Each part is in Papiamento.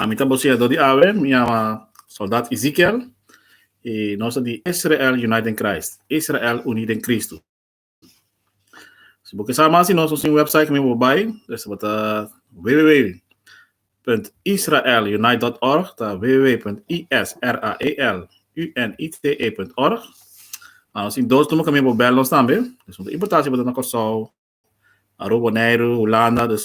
Ami ta bosiador di awe, mi yama Soldat Ezekiel i nos ta di Israel United in Christ, Israel Uni den Kristu. Si bo ke sa mas di nos, nos tin un website ku mi bo bai, es tabata www.israelunite.org, ta www.israelunite.org. Nos tin dos number ku mi bo bel nos tambe, no importante si bo ta na Kòrsou, Aruba, Boneiru, Hulanda, dus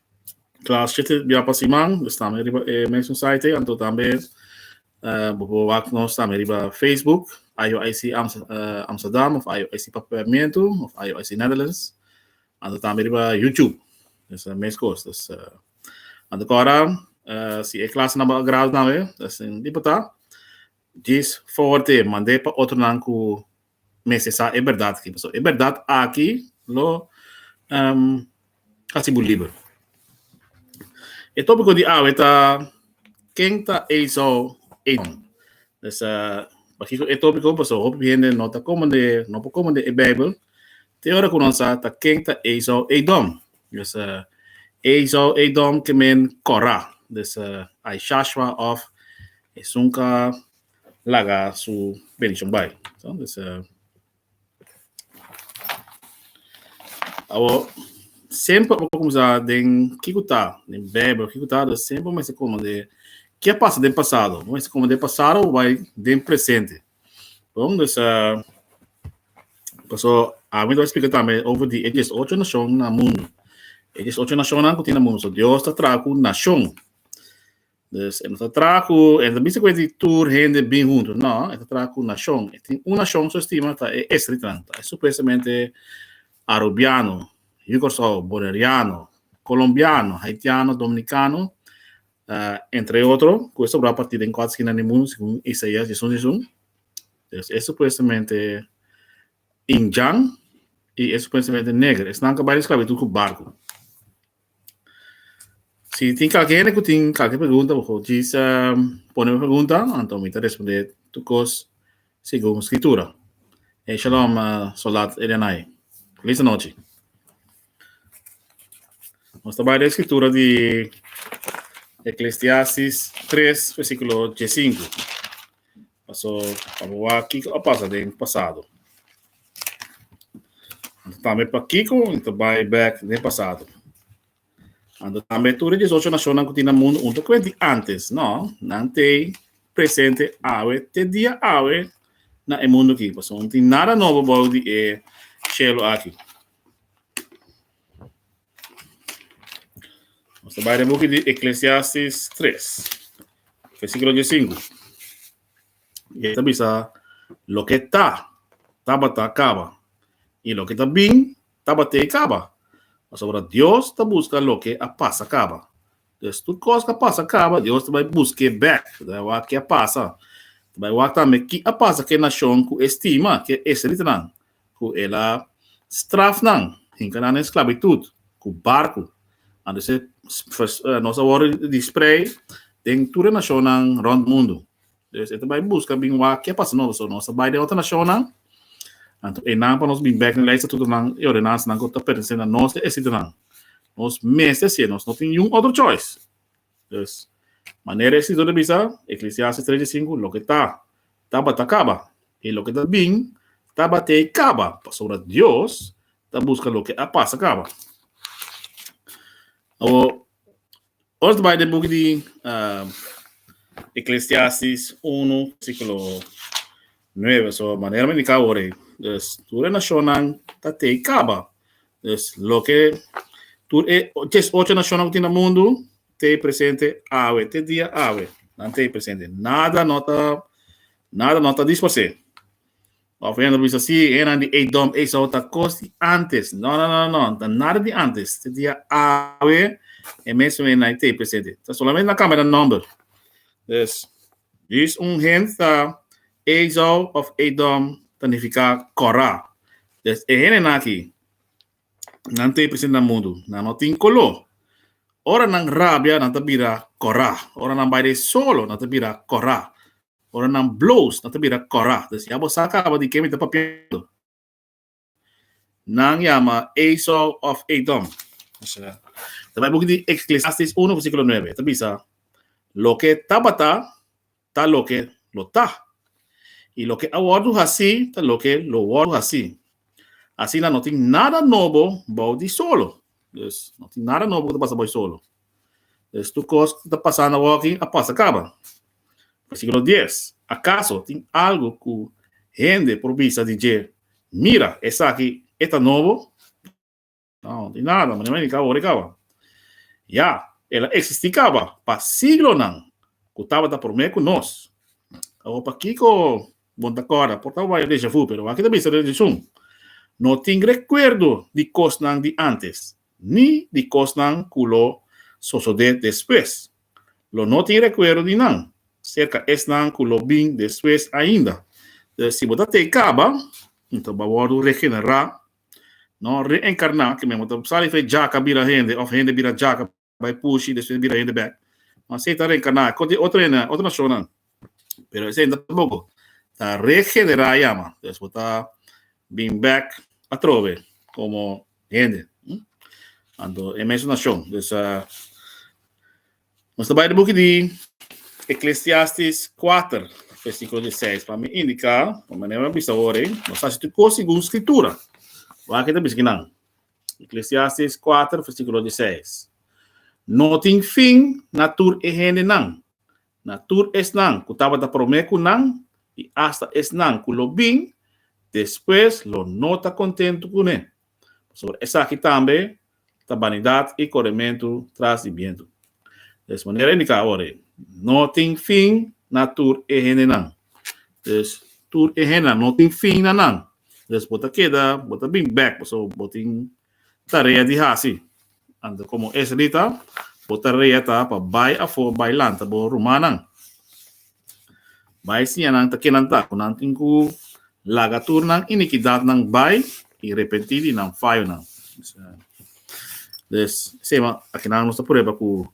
Classheet e bia pa siman, dus tambe riba e mesun site ei, anto tambe eh, bo por wak nos tambe riba Facebook, IOIC Ams- eh, Amsterdam of IOIC Papiamento of IOIC Netherlands, anto tambe riba YouTube. Dus eh, mes kos. Dus eh, anto kora eh, si e klas na bo agrado tambe, dus tin di por ta, djis favor te mand'e pa otronan ku mester sa e berdad aki pasobra e berdad aki lo hasi bo liber. E tópiko di awe ta Ken ta Esau Edom? Pues pakiko e tópiko? Pasobra hopi hende no ta komende, no por komende e Beibel te ora ku nan sa ta ken ta Esau Edom. Pues Esau Edom ke men Kora. Pues Aishashwa òf Esunka. laga su bendición bai. So, dus, uh, Awor, sempre bo comienza den kiko ta, den Bijbel, kiko ta, dus sempre mensen komen de, kia pasa den pasado? Mensen komen den pasado, bo bai den presente. Bon, dus, uh, paso, a mí te explica también over die, het is ocho naciones na mundo. Het is ocho naciones ku tin na mundo. So, Dios ta traku nacion. Dus e no ta traha ku e no ta bisa ku e tin tur hende bin huntu. No, e ta traha ku nashon. E tin un nashon su estima ta e estritnan. Ta e supuestamente arubiano, Yu Kòrsou, Boneriano, Kolombiano, Haitiano, Dominikano, entre otro, ku e sobrá partí den kòt skina di mundu segun Isaias yisun yisun. Dus e supuestamente Injan i e supuestamente neger. Esnan ku bai di sklabitud ku barku. Si tin kalke hende ku tin kalke pregunta bo hochi sa pone pregunta anto mi ta responde tu kos segun skritura. E shalom uh, soldat Elianai. Feliz anochi. Ons ta bai de skritura di Ecclesiastes 3 versículo 15. Paso pa bo wa kiko a pasa den pasado. Tambe pa Kiko, i ta bai back den pasado. Ando tambe tur e 18 nacionnan ku tin na mundo un ta kwenti antes, no? Nan tei presente awe, te dia awe na e mundo ki. Paso un tin nada nobo bou di e cielo aki. Nos ta bai den buki di Eclesiastes 3, versiculo 15. E ta bisa, loke ta, tabata kaba. I loke ta bin, tabaté kaba. Pasobra Dios ta buska loke a pasa kaba. Pues tur kos ku a pasa kaba, Dios ta bai busk'é bèk, ta bai wak ke a pasa. Ta bai wak tambe ki a pasa ku e nashon ku e stima, ku e israelitanan. ku el a straf nan, hinka nan na esklabitut ku barku. Anto esei nos a wòrdu disprei den tur e nashonnan rònt mundu. Des e ta bai buska bin wak ke a pasa nobo. So nos ta bai den otro nashonnan, anto einan pa nos bin bèk den lei, estatutonan i ordenansanan ku ta pertense na nos, di e sitionan. Nos mester hasié, nos no tin niun otro choice. Dus, manera e escritor ta bisa, Eclesiastes tres di sinku, loke ta, tabata kaba, i loke ta bin, tabatei kaba, pasobra Dios ta buska loke a pasa kaba. Awo, ora ta bai den buki di Eclesiastes uno, versículo Nueve, so manera mi indica awor ey, dus tur e nacionnan ta tey caba, dus loke tur e ches ocho nacionnan cu tin na mundo tey presente awe, te dia awe nan tey presente, nada no ta nada no ta disparse, of hende lo bisa si enan di Edom, Esau ta cos di antes, no no no no ta nada di antes, te dia awe e mes enan ey tey presente, ta solamente nan cambia nan nomber, dus Dus un hende ta Esau òf Edom, ta nifiká Kòrá. Des e hendenan akí, nan ta e present na mundu, nan no tin koló. Ora nan rabia, nan ta bira Kòrá. Ora nan bai dje solo, nan ta bira Kòrá. Ora nan blous, nan ta bira Kòrá. Des ya bo sa kaba di ke mi ta papiando. Nan yama Esau of Edom. Ta bai buki di Ecclesiastes 1 versículo 9. Ta bisa, loke tabata, ta loke lo ta. I loke a wordu haci, ta loke lo wordu haci. Asina no tin nada nobo bou di solo. Dus, no tin nada nobo cu ta pasa bou di solo. Es tur kos ku ta pasando awor aki a pasa kaba. Versíkulo dies, Akaso tin algu ku hende por bisa di dje, Mira, esaki e ta nobo? No, no tin nada, manera niña kaba, ora e kaba. Ya, el a eksistí kaba pa siglonan ku tabata promé ku nos. Awor, pakiko bo no ta kòrda? Por tabata waya deja vu, pero aki ta bisa den atenshon. No tin rekuerdo di kosnan di ántes. ni di kosnan ku lo sosodé despues. Lo no tin rekuerdo di nan, serka esnan ku lo bin despues ainda. Si bo ta tei kaba, nto bo a wòrdu regenerá, nò reenkarná, ke men bo ta sali fei djaka bira hende òf hende bira djaka bai pushi, despues bira hende bèk. Nò asei ta reenkarná, kos di otro hende, otro nashonnan. Pero esei no tampoco. Ta regenerá ya, man. Entonces, bo ta bin back atrobe como hende. Hm? Anto, e mes nacion. Dus, uh, nos ta bai de boek di Ecclesiastes 4, versículo 16. Pa mi indica, pa manera mi bisa ore, nos hace tu cosa según escritura. Waar kita bisa kinan? Ecclesiastes 4, versículo 16. No tin fin na tur e hendenan, na tur esnan ku tabata promé ku nan i asta esnan ku lo bin despues lo no ta kontentu kuné, pasobra esaki tambe ta banidat i korementu tras di bientu. Des manera indika awor ei, no tin fin na tur e hendenan. Dus, tur e hendenan no tin fin na nan. Dus bo ta keda, bo ta bin bèk pasobra bo tin Tarea di hasi. Anto komo Esrita, bo tarea ta pa bai afó bai lanta bo rumannan. Bai siña nan ta ke nan ta ku nan tin ku laga tur nan inikidatnan bai i repentí di nan fayonan. Des, sema akinan nos ta prueba ku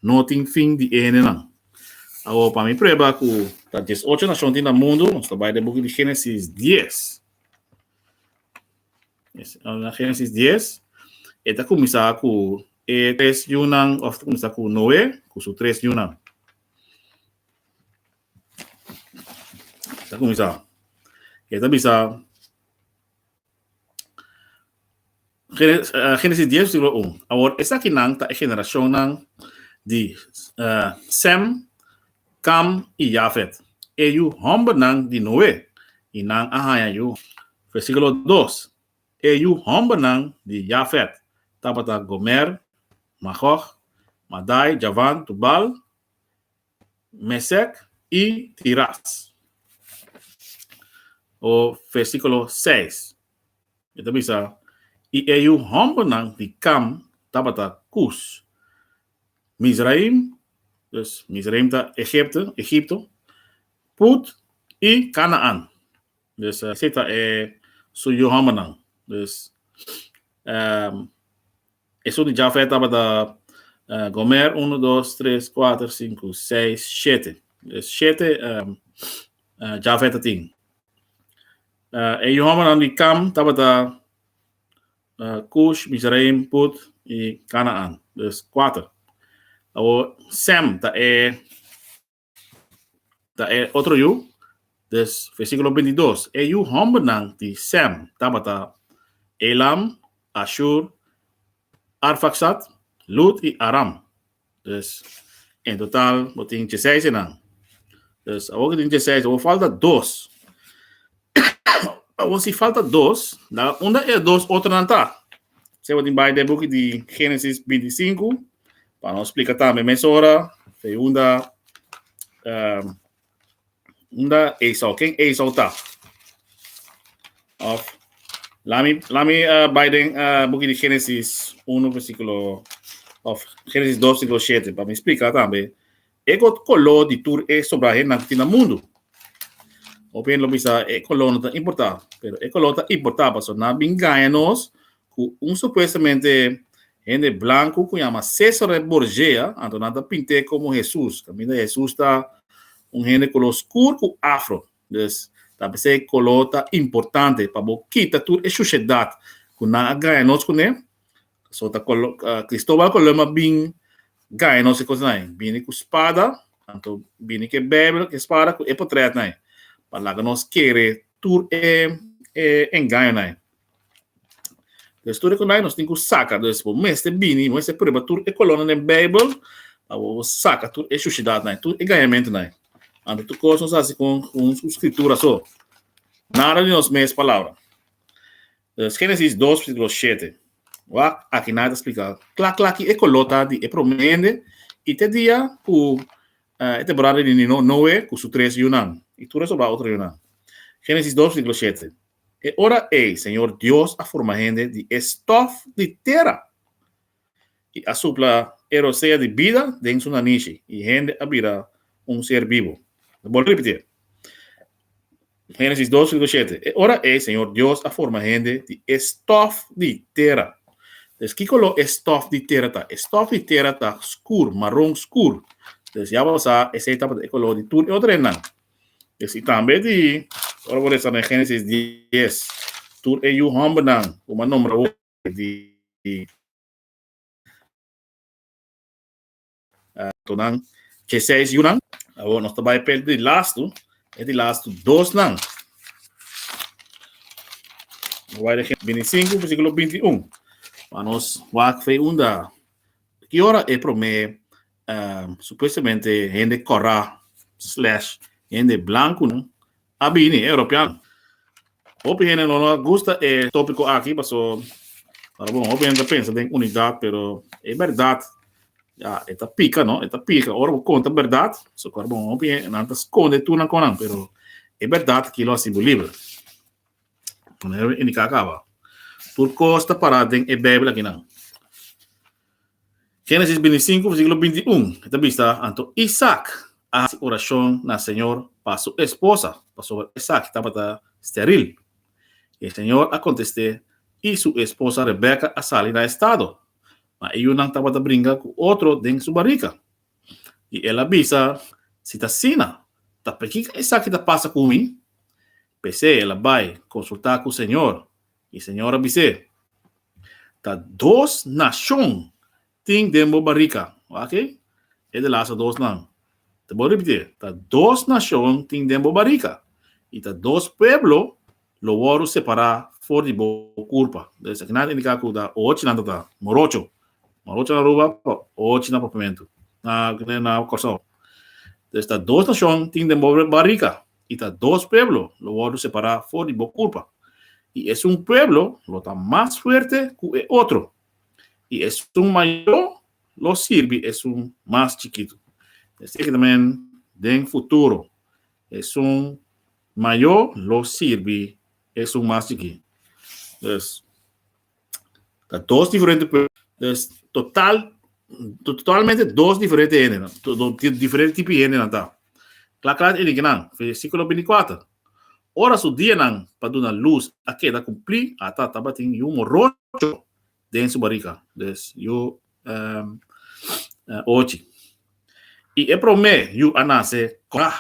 no tin fin di e hendenan. Awor pa mi prueba ku ta dies ocho nashon tin na mundu, nos ta bai den buki di Génesis dies. Na Génesis dies, e ta kuminsá ku e tres yunan, òf ta kuminsá ku Noe ku su tres yunan. Ta kuminsá. E ta bisa Génesis, eh, Génesis 10, versículo 1. Awor, esakinan ta e generashonnan di eh, Sem, Kam i Jafet, e yu hòmbernan di Noe, i nan a haña yu. Versíkulo dos, E yu hòmbernan di Jafet tabata Gomer, Magòg, Madai, Javan, Tubal, Mèsèk i Tiras. O versíkulo seis, e ta bisa, I e yu hòmbernan di Kam tabata Kus, Mizraim, dus Mizraim ta Egipto, Egipto, Put i Kanaan. Dus esei ta e su yohòmbernan. Dus esun di Jafet tabata Gomer, unu, dos, tres, kuater, sinku, seis, shete. Dus shete Jafet a tin. E yohòmbernan di Kam tabata. Cush, Mizraim, Put i Canaan. Bes cuater. Awor, Sem ta e ta e otro yu. Bes versiculo binti i dos. E yu hombernan di Sem tabata Elam, Ashur, Arfaxad, Lud i Aram. Dus, en total bo tin djeseis enan. Dus, awor ke tin djeseis, awor falta dos. awor si falta dos, la unda e dos otronan ta? Se bo tin bai den buki di Génesis bintisinku, pa nos splika tambe mesora, segunda, um, Unda Esau? Ken Esau ta? Of lami lami uh, bai den uh, boek di Genesis 1 versículo of Genesis 2 versículo 7 para me explicar también. E got color di tur e sobra hen nan tina mundo. Opien lo bisa e color no ta importa, pero e color ta importa paso na bingaña nos ku un supuestamente hende blanku ku yama Cesare Borgia, anto nan ta pint'e komo Hesus. Kaminda Hesus ta un hende koló skur ku afro. Dus, ta p'esei koló ta importante pa bo kita tur e shushedat ku nan a gaña nos kuné. So ta Kolom, Kristobal Kolom a bin gaña nos e kosnan ei. Bini ku spada, anto bini ku e Beibel, ku e spada, ku e potrètnan ei, pa laga nos kere tur e engañonan ei. Te studio con nos tin cu saca, dus bo mester bini, bo mester prueba tur e colonna den Bijbel, pa bo saca tur e shushidad nai, tur e gañamento nai. Ante tur cos nos haci con un scritura so, nada di nos mes palabra. Dus Génesis dos versículo shete. Wak, aki nai ta splica cla cla ki e color ta di e prome hende y te dia cu eh, e temporada di Nino- Noe cu su tres yunan y tur e soldado otro yunan. Génesis dos versículo shete. E ora ei Señor Dios a forma hende di e stòf di tera, i a supla e rosea di bida den su nanishi, i hende a bira un ser bibu. Lo bòlta ripitié. Génesis dos versíkulo shete, E ora ei Señor Dios a forma hende di e stòf di tera. Entonces, kiko lo e stòf di tera ta? E stòf di tera ta skur, maron skur. Entonces, ya bo sa esei tabata e koló di tur e otro hendenan. Yes, i tambe di, ora bo lesa den Génesis dies, tur e yu hòmbernan ku bo a nombra hopi, di tonan dje seis yunan, awor nos ta bai pèrdè di lastu, e di lastu dosnan. Bo bai den Génesis bintisinku, bersíkulo bintiun, pa nos wak frei unda, ki ora e promé supuestamente hende kòrá slash hende blankunan a bini, e Europiano. Hopi hende no lo a gusta e tópiko aki paso ora bon hopi hende ta pensa den unidat pero e bèrdat ya e ta pika no e ta pika ora bo konta bèrdat so ora bon hopi nan ta skonde tur nan kònan pero e bèrdat aki lo hasi bo liber. indiká kaba tur kos ta pará den e Beibel akinan. Génesis bintisinku, versíkulo bintiún, e ta bista anto Isak a hasi orashon na Señor pa su esposa, pasobra Isak tabata stèril. E Señor a kontest'é i su esposa Rebeka a sali na e stado, ma e yunan tabata bringa ku otro den su barika. I el a bisa, Si ta asina, ta pakiko esaki ta pasa ku mi? P'esei el a bai konsultá ku señor, i señor a bis'é, Ta dos nashon tin den bo barika. Wak-e, e di lasa dos nan. Ta bon ripitié, Ta dos nashon tin den bo barika, i ta dos pueblo Lo wòru separá for di bo kurpa. Dor esaki nan a indiká ku ta ochi nan ta ta morocho. Morocho na Aruba, ochi na Papiamentu, na na Kòrsou. Entonces ta dos nashon tin den bo barika i ta dos pueblo lo wòru separá for di bo kurpa. I esun pueblo lo ta mas fuerte ku e otro, i esun mayó lo sirbi esun mas chikitu. Esaki ta men den futuro. Esun mayo lo sirbi esun mas chiki. Pues, ta dos diferente pues, total totalmente dos diferente hende nan. Dos diferente tipo hende nan ta. Kla kla e diki nan, versikulo 24. Ora su dianan pa duna lus a keda kumplí, a ta tabatin yu morocho den su bariga, des yu ochi. I e promé yu a nase kòrá.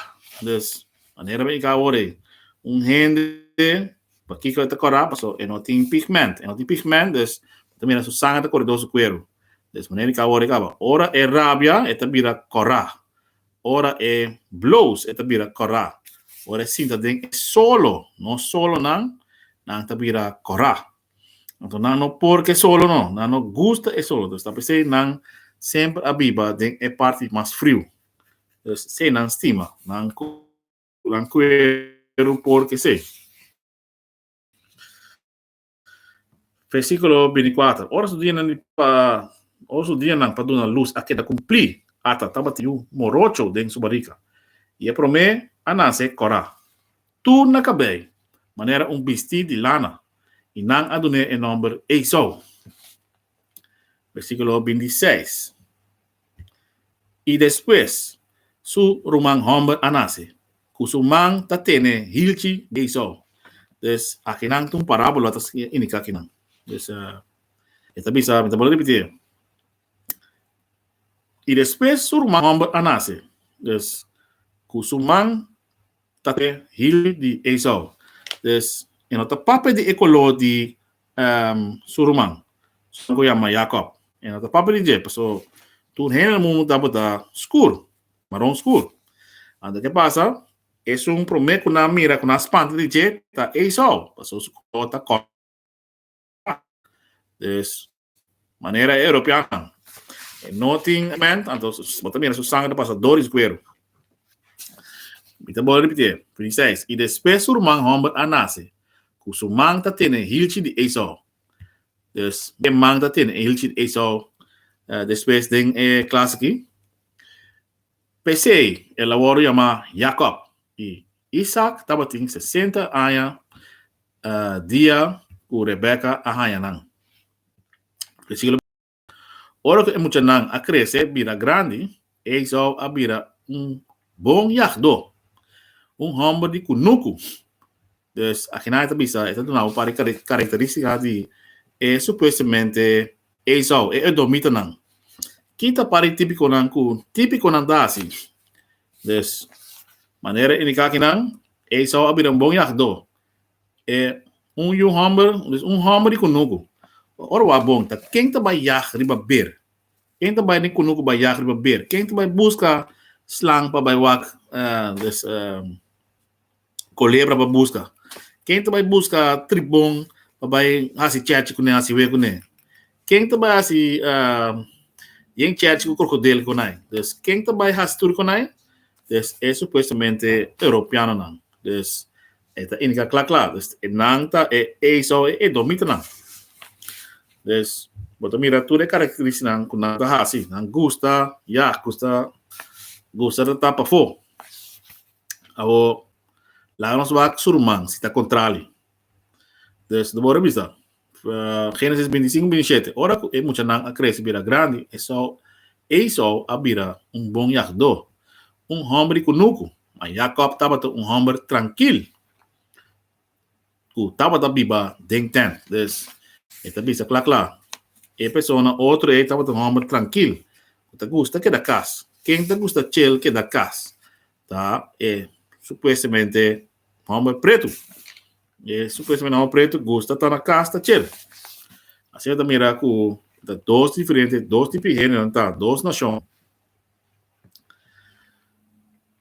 Des manera mi ka ora ei, un hende pakiko e ta kòrá, pasobra e no tin pigment. E no tin pigment, des bo ta mira su sanger ta kore dor su kuerpu. Des manera mi ka ora ei kaba. Ora e rabia e ta bira kòrá. Ora e blous e ta bira kòrá. Ora e sinta den e solo, no solonan, nan ta bira kòrá. Anto nan no por ke solo no, nan no gusta e solo. Dus ta p'esei nan semper a biba den e parti mas friu. Dus esei nan stima, nan nan kueru por k'esei. Versíkulo bini kuater, Ora su dianan di pa ora su dianan pa duna lus a keda kumplí, ata tabatin yu morocho den su barika, i e promé a nase Kòrá. Tur na kabei manera un bistí di lana, i nan a dun'é e nòmber Esou. Bersíkulo bintiseis I despues su ruman hòmber a nase, ku su man ta tene hilchi Esou. Pues, akinan ta un parábola ta indiká kinan. Pues, e ta bisa, mi ta bole repitié, I despues su ruman hòmber a nase, pues, ku su man Tate Hilly di Eisau. Des e no ta papia di e koló di su ruman, su nan ku yama Jakòb. E no ta papia di dje, pasobra tur hende na mundu tabata ta skur, maron skur. Anto ke pasa? Esun promé ku nan mira ku nan spanta di dje ta Eisau, pasobra su koló ta kòrta. Des manera e Europeannan e no tin ment, anto bo ta mira su sanger ta pasa Doris Guero. Mi ta bole repitié, Prinses, i despues su ruman homber a nace, cu su man ta tene hilchi di Esau. Des e man ta tene e hilchi di Esau despues den e klas aki. P'esei el a worde yama Jacob, i Isak tabatin sesenta aña dia ku Rebeka a haña nan. Versíkulo beinti, Ora ku e muchanan a krese bira grandi, Esau a bira un bon yagdó, un hòmber di kunuku. Dus, aki nan e ta bisa e ta duna bo un par di karakterístika di e supuestamente Esau, e edomitanan. Ki ta pari típikonan ku típikonan ta hasi? Des manera e indiká kinan, Esau a bira un bon yagdó. E un yu hòmber, dus un hòmber di kunuku. Ora wak bon, ta ken ta bai yag riba ber? Ken ta bai den kunuku bai yag riba ber? Ken ta bai buska slang pa bai wak? Des. Kolebra pa buska. Ken ta bai buska tribon pa bai hasi chèchi kuné, hasi we kuné? Ken ta bai hasi uh, yen chèchi ku krokodil konai? Dus ken ta bai hasi tur konai? Dus e supuestamente europeanonan. Dus e ta indika kla kla. Dus e nan ta e eiso e edomitanan. Dus bo ta mira tur e karakteristiknan ku nan ta hasi. Nan gusta, ya, gusta, gusta ta tapa fo. Awor, laga nos wak su ruman si ta kontrali. Dus, no bo revisa Génesis bintisingu bintisete. Ora ku e muchanan a krese bira grandi, Esau Esau a bira un bon yagdó, un hòmber di kunuku, ma Yakòb tabata un hòmber trankil. ku tabata biba den tènt. Dus, e ta bisa kla kla, e persona otro ei tabata un hòmber trankil ku ta gusta keda kas. Ken ta gusta chel keda kas? Ta e supuestamente hòmber pretu. E supuestamente hòmber pretu gusta ta na kas ta chel. Asina ta mira ku ta dos diferente, dos tipi di heneronan ta, dos nashon.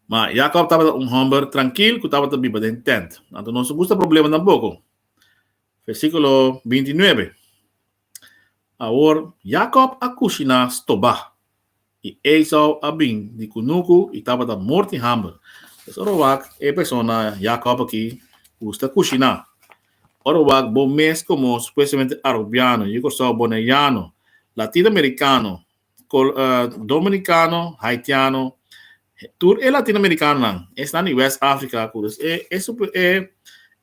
Ma, Jakòb tabata un hòmber trankil ku tabata biba den tènt. Anto no su gusta problema tampoko. Versíkulo binti i nuebe, Awor, Jakòb a kushiná stobá, i Esau a bin di kunuku i tabata mor di hamber. Es ora wak e persona Jakòb aki gusta kushiná. Ora wak bo mes komo supuestamente arubiano, yo Kòrsou, boneiano, latino-merikano, Dominikano, Haitiano, tur e Latinoamerikanonan esnan di West Africa ku e e super e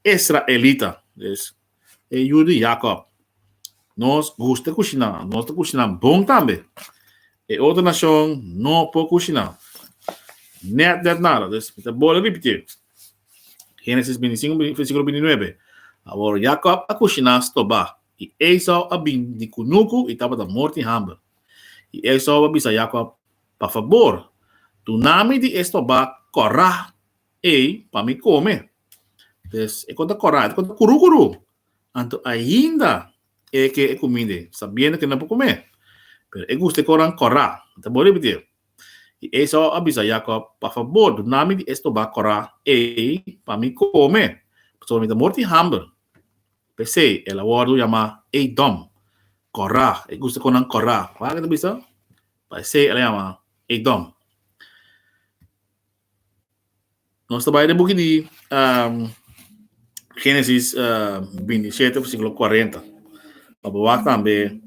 Israelita, dus e yu di Jakob. Nos gusta e kushiná, nos ta kushiná bon tambe. E otro nashon no por kushiná. Nèt nèt nada, dus mi ta bole ripitié. Génesis binti sinku, versíkulo binti nuebe. Awor Jakob a kushiná stobá, I Esau a bin di kunuku i tabata mor di hamber. I Esau a bisa Yakob, Pa fabor, duna mi di e stobá kòrá ei pa mi kome. Pues, e konta kòrá, e konta kurúkurú, anto ainda e ke e kuminda ei, sabiendo ke e no por kome. Pero e gusta e koran kòrá. Mi ta bon ripití e. I Esau a bisa Yakob, Pa fabor, duna mi di e stobá kòrá ei pa mi kome, pasobra mi ta mor di hamber. P'esei el a wòrdu yamá Edòm, Kòrá. E gusta kon nan Kòrá. Wak e ta bisa? P'esei el a yama Edòm. Nos ta bai den buki di Génesis bintisiete, versíkulo kuarenta. Lo bo wak tambe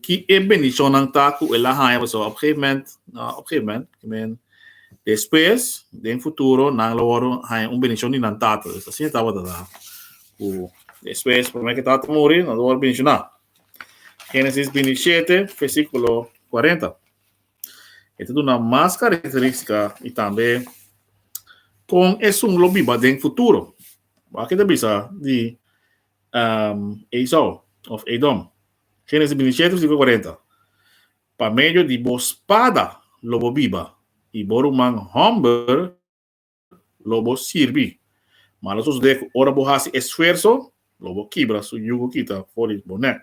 ki e bendishonnan ta ku el a haña. Pasó op gegeven moment, no op gegeven moment, I mean, despues, den futuro, nan lo wòrdu haña un bendishon di nan tata. Pues asina tabata, ta Ku despues promé ke tata muri, nos a wòrdu menshoná. Génesis binti i shete, versíkulo kuarenta. E ta duna mas karakterístika i tambe kon esun lo biba den futuro. Wak ke ta bisa di Esau òf Edom. Génesis binti i shete, versíkulo kuarenta. Pa medio di bo spada lo bo biba, i bo ruman hòmber, lo bo sirbi. Ma lo sosodé ku ora bo hasi esfuerso, lo bo kibra su yugu kita for di bo nèk.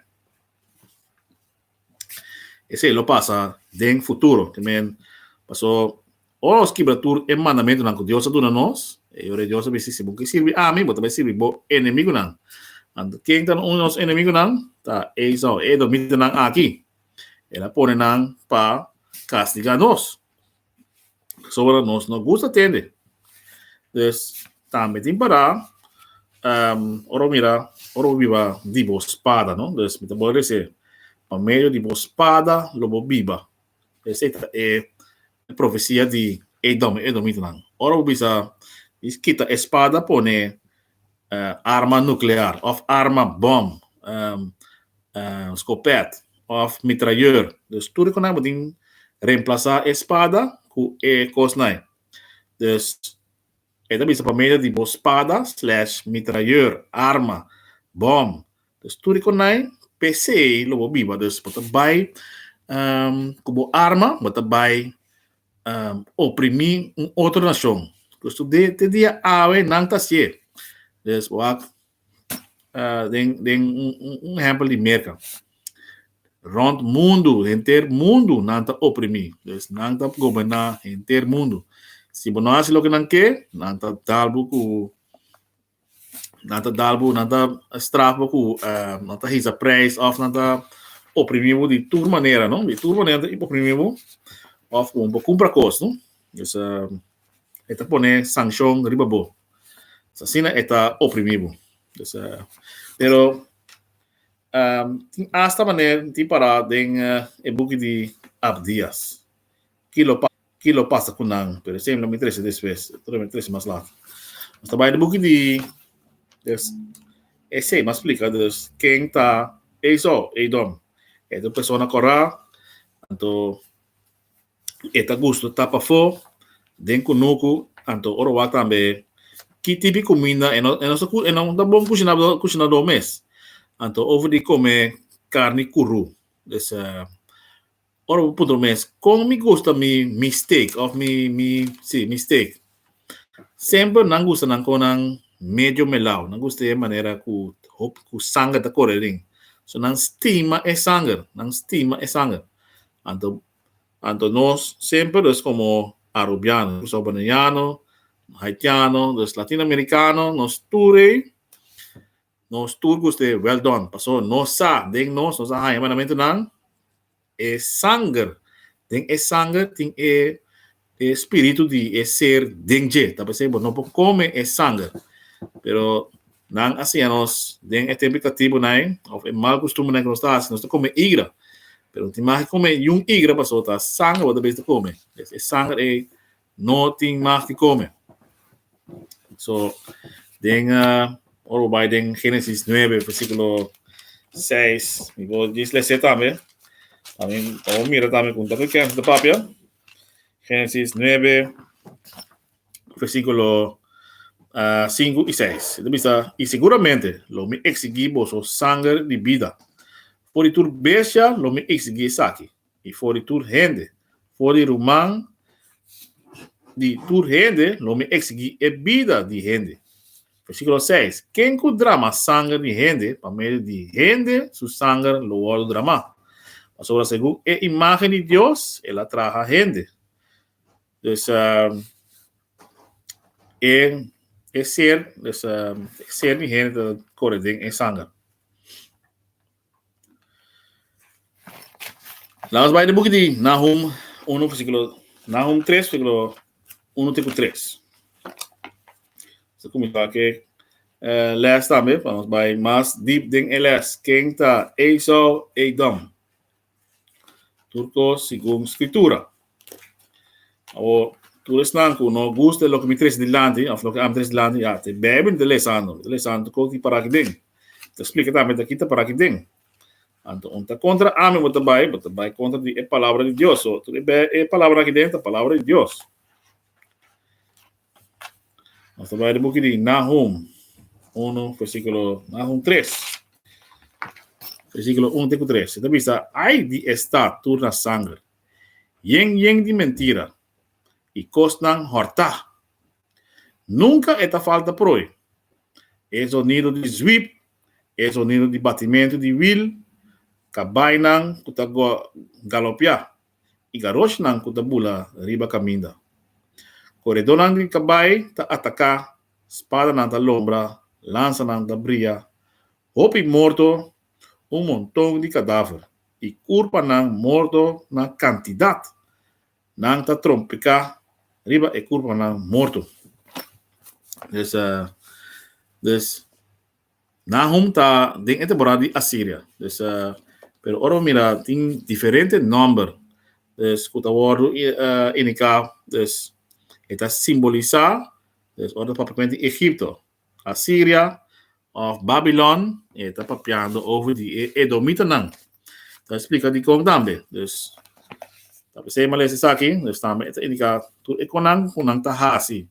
Esei lo pasa den futuro. Te men, paso ora nos kibra tur e mandamentunan ku Dios a duna nos, e Yora di Dios a bisa, si bo ke sirbi ami, bo ta bai sirbi bo enemigunan. Anto, ken ta un di nos enemigunan? Ta Esau, e edomitannan aki. El a pone nan pa kastigá nos. Soba nos no gusta tende. Dus tambe tin para um, oro mira, oro biba di bo spada, no? Dus mi ta bo rese, pa medio di bo spada lo bo biba. Ese ta e, e profecia di Edom, Edomitanan. Oro bisa, is kita espada pone arma nuclear of arma bom scopet of mitrailleur dus tur e cosnan bo tin reemplasa e spada cu e cosnan dus e ta bisa pa medio di bo spada slash mitrailleur arma bom dus tur e cosnan pc lo bo biba dus bo ta bay cu bo arma bo ta bay oprimí un otro nashon. Pues tob'é te dia awe nan ta hasié. Pues wak den den un ehèmpel di Merka. Rònt mundu, henter mundu nan ta oprimí. Pues nan ta goberná henter mundu. Si bo no hasi loke nan ke, nan ta dal bo ku nan ta dal bo nan ta straf bo ku nan ta hisa prijs of nan ta oprimí bo di tur manera no di tur manera nan ta oprimí bo of ku bo kumpra kos no dus e ta pone sankshon riba bo so asina e ta oprimí bo dus pero tin asta manera tin para den e buki di Abdias kilo pa. Ki lo pasa ku nan? Pero esei lo mi trese despues. Otro dia mi trese mas later. Nos ta bai den buki di Dus, esei mi a splika dus ken ta Esau, Edom. E ta un persona kòrá, anto e ta gusto ta pafó den kunuku, anto ora wak tambe ki tipo di kuminda e no e no sa e no ta bon kushinadó kushinadó mes. Anto over di kome karni kurú. Dus. Ora bo puntra bo mes, Kon mi gusta mi mi steak òf mi mi si mi steak? Semper nan gusta nan kon nan medio melao. Nan gusta e manera ku hopi ku sanger ta kore aden. So nan stima e sanger, nan stima e sanger. Anto anto nos semper nos komo arubiano, nos salvadoreñano, haitiano, nos latinoamerikano, nos tur ei. Nos tur cu este well done, paso nos sa den nos, nos a haña mandamentunan, e sanger, den e sanger tin e e spiritu di e ser den dje, ta p'esei bo no por come e sanger. Pero nan a siña nos den e tempo di catibonan of e mal custumbernan cu nos ta haci, nos ta come igra, pero tin mas ki come yu un igra, paso ta sanger bo ta bisa come, es e sanger ei. no tin mag di come. So, den, uh, ora bo bai den Génesis 9, versículo 6, mi bo dis lese tambe. También, o mira también con tanto que de papia. Génesis 9, versículo uh, 5 y 6. Entonces, dice, y seguramente lo me exigí vos sangre de vida. Por tu bestia lo me exigí saki. i for di tur hende, for di ruman di tur hende, lo mi eksiguí e bida di hende. Versíkulo seis, Ken ku drama sanger di hende, pa medio di hende su sanger lo wòrdu dramá. Pasobra segun e imágen di Dios el a traha hende. Dus, e ser, e ser di hende ta kore den e sanger. Lamas bai na buki di Nahum unu versíkulo Nahum tres versíkulo unu te ku tres. Nos a kuminsá ku e lès tambe pa nos bai mas dip den e lès. Ken ta Esau Edom? Tur cos segun Scritura. Awor, tur esnan cu no gusta loke mi trece dilanti, of loke ami trece dilanti, ya, ta e Bijbel mi ta lesando. Mi ta lesando tur cos di para aki den. Mi ta splica tambe taki ta para aki den. Anto, unda ta contra ami bo ta bai, bo ta bai contra di e Palabra di Dios. So, tur e Bijbel, e palabranan aki den ta Palabra di Dios. Nos ta bai de boeki di Nahum 1, versículo Nahum 3. Versículo 1 teku 3. Eta bisa, ai di e stad tur na sanger, yen yen di mentira, i kosnan hòrtá. Nunka e ta falta proi. E zonido di zwip, e zonido di batimentu di wil, kabainan ku ta galopiá, i garoshnan ku ta bula riba kaminda. Koredónan di kabai ta ataká, spadanan ta lombra, lansanan ta bria, hopi morto, un monton di kadáfer i kurpanan morto na kantidat. Nan ta trompiká riba e kurpanan morto. Des, des. Nahum ta den e temporada di Asiria. Dus pero ora bo mira tin diferente nòmber dus ku ta wòrdu indiká dus e ta simbolisá dus ora ta papia kuenta di Egipto, Asiria òf Babilòn e ta papiando over di e edomitanan. Ta explica dicon tambe. Dus, ta p'esei m'a lesa esaki, dus tambe e ta indica tur e conan cu nan ta haci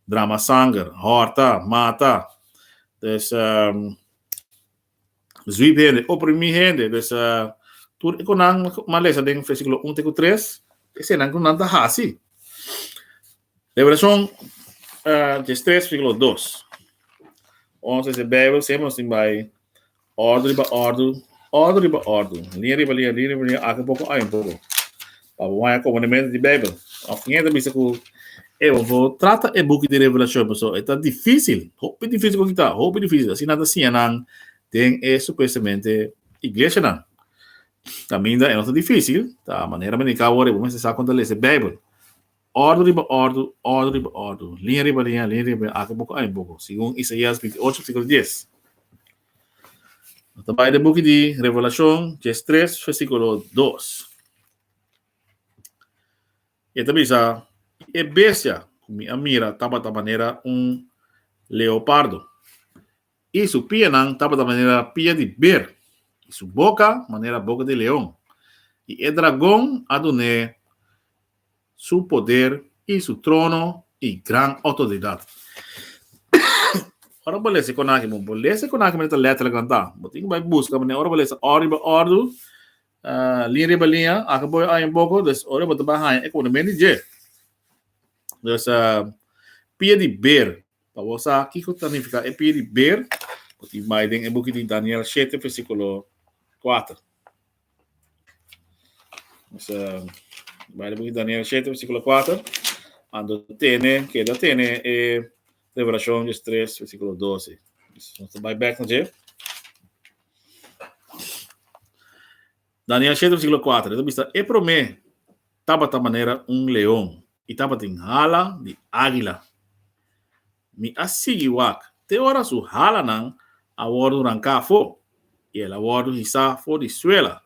drama sanger, horta, mata. Dus, sweep hende, oprimi hende. Dus, tur e conan m'a lesa den versiculo un te cu tres, eseinan cu nan ta haci. Liberacion Genesis tres versículo dos. Ons lesa e Bijbel siempre nos tin bai ordu riba ordu, ordu riba ordu, línea riba línea, línea riba línea, aki un poco, ahi un poco. Pa bo haya componimento di Bijbel. Of kin hende a bisa cu e bo for trata e buki di Revelacion paso e ta dificil, hopi dificil cu kita, hopi dificil. Asina nan ta siña nan den e supuestamente iglesianan. Caminda e no ta dificil, ta manera men di cabo ora e bo mester sa con ta lesa e Bijbel. Ordu riba ordu, ordu riba ordu, liña riba liña, liña riba liña, aki buco, aki buco, segun Isaias binti ocho, versiculo dies. No ta bai den buki di Revelacion, cu es tres, versiculo dos. E ta bisa, E bestia cu mi a mira tabata manera un leopardo, i su pianan tabata manera pia di beer, i su boca manera boca di leon, i e dragon a dun'é Su poder i Su trono i gran otordidat. Ora bo lesa konan aki, bo lesa konan aki ta lèter agrandá. Bo tin ku bai buska manera ora bo lesa òr riba òr, liña riba liña, aki bo oye un poko, dus ora bo ta bai haña e kononamento dje. Dus, pia di ber, pa bo sa kiko ta nifiká e pia di ber, bo tin bai den e buki di Daniel shete, versíkulo kuater. Nos a baila buki Daniel 7, versículo 4. Ando tene, queda tene e revelación 3, versículo 12. Nos a baila back na je. Daniel 7, versículo 4. Esta vista, e promé tabata manera un león y tabata in hala di águila. Mi a sigui wak te ora su halanan a wòrdu ranká afó i el a wòrdu hisá for di suela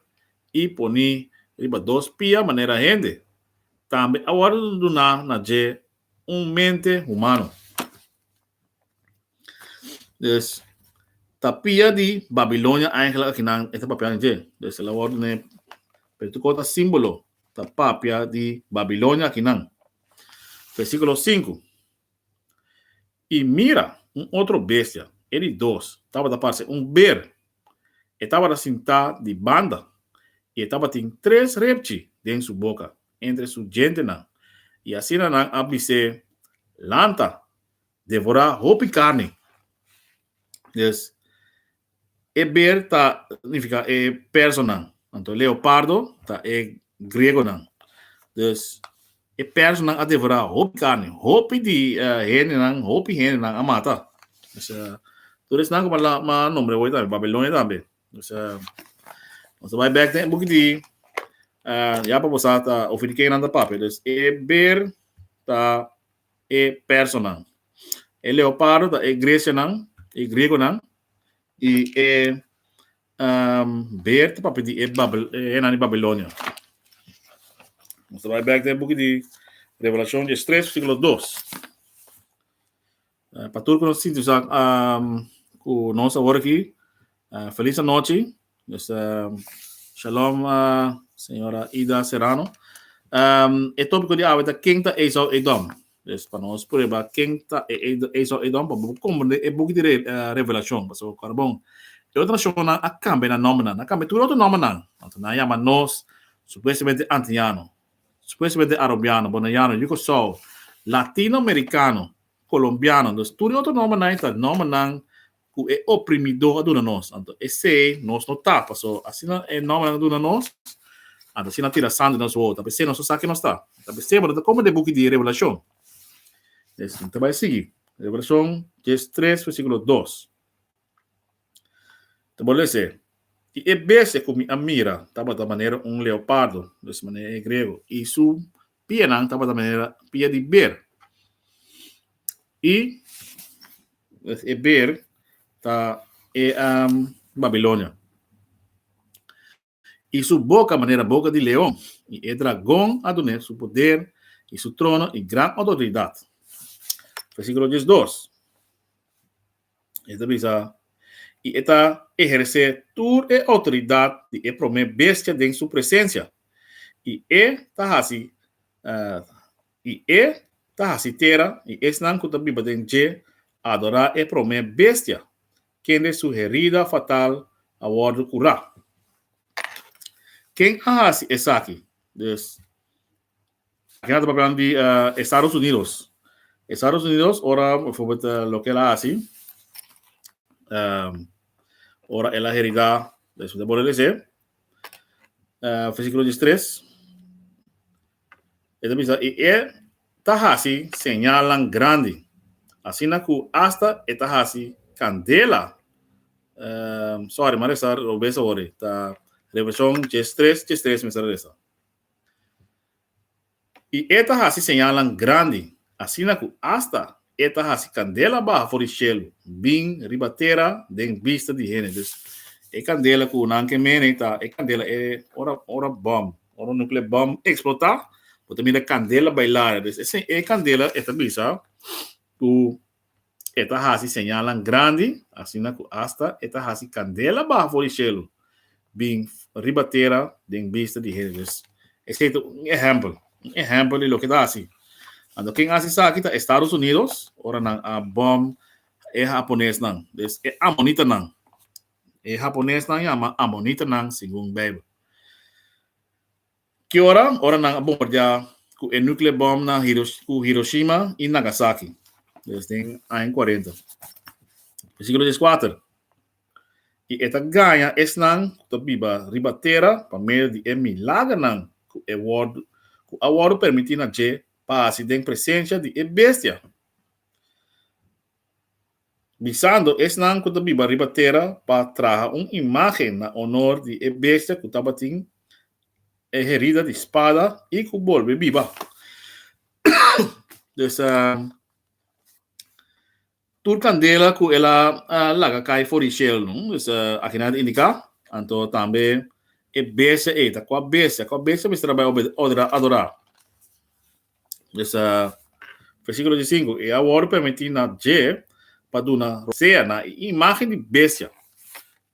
i poní riba dos pia manera hende. Tambe a wòrdu duná na dje un mente humano. Dus, ta pia di Babilonia eigenlik akinan e ta papia di dje. Dus el a wòrdu ne Peritu Kòt a símbolo ta papia di Babilonia akinan. Versíkulo sinku. I mira, un otro bestia, e di dos, tabata parse un ber. E tabata sintá di banda, i e tabatin tres repchi den su boka, entre su djentenan, i asina nan a bis'é, Lanta, devorá hopi karni. Des. E beer ta nifiká e personan. Anto leopardo ta e griegonan. Dus, e personan a devorá hopi carni. Hopi di hendenan, hopi hendenan a mata. Dus, tur esnan cu a m'a nombre hoy tambe, Babilonia tambe. Dus, nos ta bai bek den e buki di ya pa bo sa ta ofi di kennan ta papia. Dus, e beer ta e personan. E leopardo ta e gresianan, e griegonan, i e beer ta papia di e hennan di Babilonia. Nos ta bai bèk den e buki di Revelashon dies tres versíkulo dos. Pa tur ku nos sinti sa ku nos awor aki, felis anochi. Mister Shalom Señora Ida Serrano. Um, e tópico di awe ta Ken ta Esau Edom. Dus pa nos prueba ken ta e, e, Esau Edom pa bo comprende e boek di re, uh, eh, Revelación. Paso carbon. E otro nacionnan a cambia na nombre nan. A cambia tur otro nombre nan. Anto nan llama nos supuestamente antiano, supuestamente arobiano, bonaiano, yucosao, latino-americano, colombiano. Dus tur otro nombre nan ta nombre nan ku e oprimidó a duna nos, anto esei nos no ta, paso asina e nómbernan a duna nos, anto asina a tira sangre den nos wou, ta p'esei nos no sa ke nos ta, ta p'esei bo no ta komo den buki di Revelashon. Esei ta bai sigui, Revelashon dies tres versíkulo dos, ta por lesa, I e bestia ku mi a mira tabata manera un leopardo, mes manera e griego, i su Pianan tabata manera pia di ber. I e ber ta e um, Babilonia. I su boka manera boka di leon, i e dragon a dun'é su poder, i su trono, i gran otoridat. Versíkulo dies dos. E ta bisa, I e ta ehersé tur e outoridat di e promé bestia den su presensia, i e ta hasi i e ta hasi tera i esnan ku ta biba den dje adorá e promé bestia, kende su herida fatal a wòrdu kurá. Ken a hasi esaki? Dus. Aki nan ta papia di Estados Unidos. Estados Unidos ora bijvoorbeeld loke el a hasi ora el a herida de su debole lese versículo diestres e ta bisa y e ta hasi señalnan grandi asina cu hasta e ta hasi candela sorry m'a resa robes awor ta Revelacion dies tres dies tres mester a resa. I e ta hasi señalnan grandi, asina ku asta e ta hasi kandela baha for di shelu, bin riba tera den bista di hende. Dus, e kandela ku nan ke mene ta e kandela e ora ora bòm, ora un nukle bòm eksplotá, bo ta mira kandela bailare. Dus, e kandela e ta bisa ku E ta hasi señalnan grandi, asina ku asta e ta hasi kandela baha for di shelu, bin riba tera den bista di hende. Dus, esei ta un ehèmpel, un ehèmpel di loke e ta hasi. Anto ken a hasi esaki ta Estados Unidos, ora nan a bòm e haponesnan. Dus, e amonitanan. E haponesnan yama amonitanan segun Beibel. Ki ora? Ora nan a bombardiá ku e nukleo bòm na ku Hiroshima i Nagasaki, des den aña kuarenta. Versíkulo dies kuater, I e ta gaña esnan ku ta biba riba tera pa medio di e milagernan ku e wòrdu ku a wòrdu permití na dje pa hasi den presensia di e bestia. bisando esnan ku ta biba riba tera pa traha un imágen na onor di e bestia ku tabatin e herida di spada i ku bolbe biba. Des, tur kandela ku el a laga kai for di shel, des, akinan ta indiká, anto tambe e bestia ei ta kua bestia? Kua bestia mester a bai adorá? Dus a versíkulo di sinku, i a wòrdu permití na dje pa duna rosea na e imágen di bestia,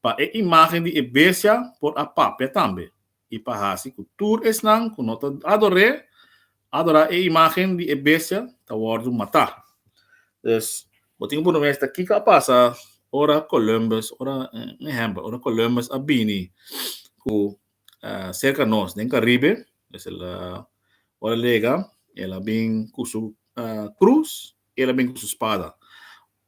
pa e imágen di e bestia por a papia tambe, i pa hasi ku tur esnan ku no ta ador'é adorá e imágen di e bestia ta wòrdu matá. Dus, bo tin ku bun'é mester kiko a pasa ora Columbus, ora un ehèmpel, ora Columbus a bini ku serka nos den Karibe, pues el a, ora el yega, el a bin ku su krus i el a bin ku su spada.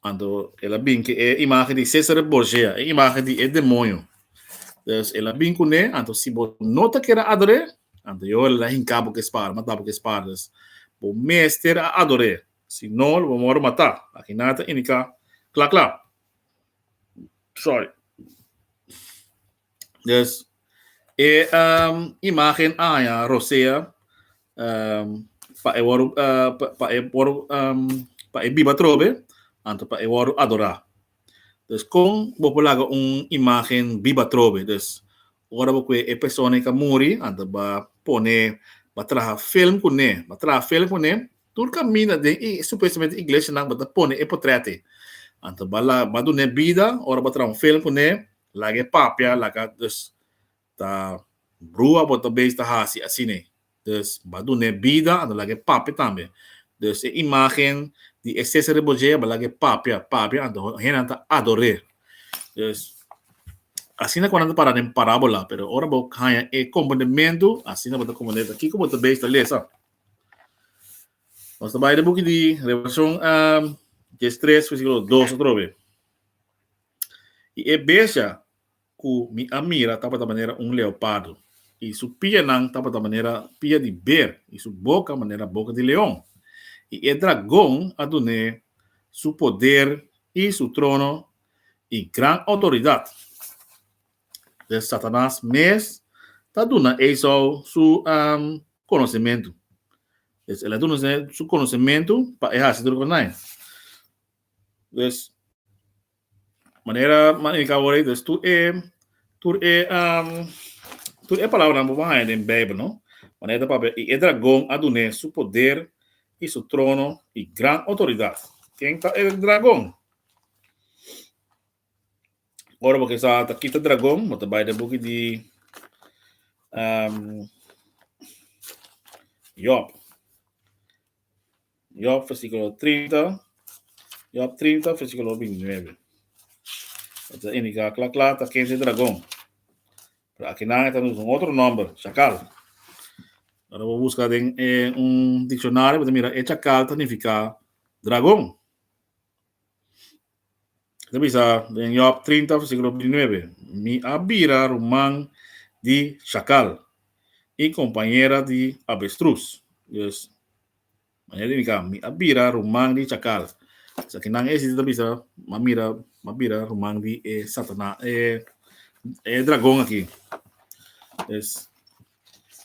Anto el a bin ku e imagen di Cesare Borgia, e imagen di e demonio. Dus el a bin kuné, anto si bo no ta kere ador'é, anto yo lo a hinká bo ku e spada, matá bo ku e spada. Dus bo mester a ador'é, si no lo bo a wòrdu matá. Akiná ta indiká kla kla. Sòri. Dus e um, imagen aña rosea um, pa e wòrdu uh, pa, pa e wòrdu um, pa e biba trobe, anto pa e wòrdu adorá. Dus kon bo por laga un imagen biba trobe? Dus ora bo kue e persona i ka muri, anto ba pone, ba traha film ku ne, ba traha film ku ne, tur kaminda den i supuestamente iglesianan bo ta pone e potrèt ei. Anto ba la, ba dune bida, ora bo traha un film ku ne, Laga e papia laga dus ta brua bo ta beis ta hasi asine dus ba dune bida a no laga e papia tambe dus e imagen di e sese rebojea ba laga e papia papia anto hennan ta ador'e dus asina ku nan ta para den parabola pero ora bo haña e kompondementu asina bo ta komponde ta kiko bo ta beis ta lesa nos ta bai den buki di revelashon dies tres versikulo dos atrobe. I e bestia ku mi a mira tabata manera un leopardo, i su pianan tabata manera pia di ber, i su boka manera boka di leon. I e dragon a dun'é su poder, i su trono, i gran outoridat. Des Satanas mes ta duna Esau su konosimentu. Des el a duna su konosimentu pa e hasi tur kos na e. Dus, manera nan indica awor ei, dus tur e, tur e, tur e palabranan bo por haya den Bijbel, no? Manera ta papia, y e dragon a dun'é su poder, y su trono, y gran autoridad. Ken ta e dragon? Ora bo kisa ta kita dragon, bo ta bay den buki di Job. Job versículo 30, Job 30 versículo 29. Esto indica cla cla ta kente dragón. Pero aquí nan está un otro nombre, chacal. Ahora vos busca den eh, un diccionario, vos mira, e chacal ta significa dragón. Ta bisa den Job 30 versículo 29, Mi a bira ruman di shakal i kompañera di avestrus. Dus, manera di indika, mi a bira ruman di shakal. Esaki nan e siti ta bisa, m'a mira, m'a bira ruman di e Satanas, e, e dragon aki. Dus,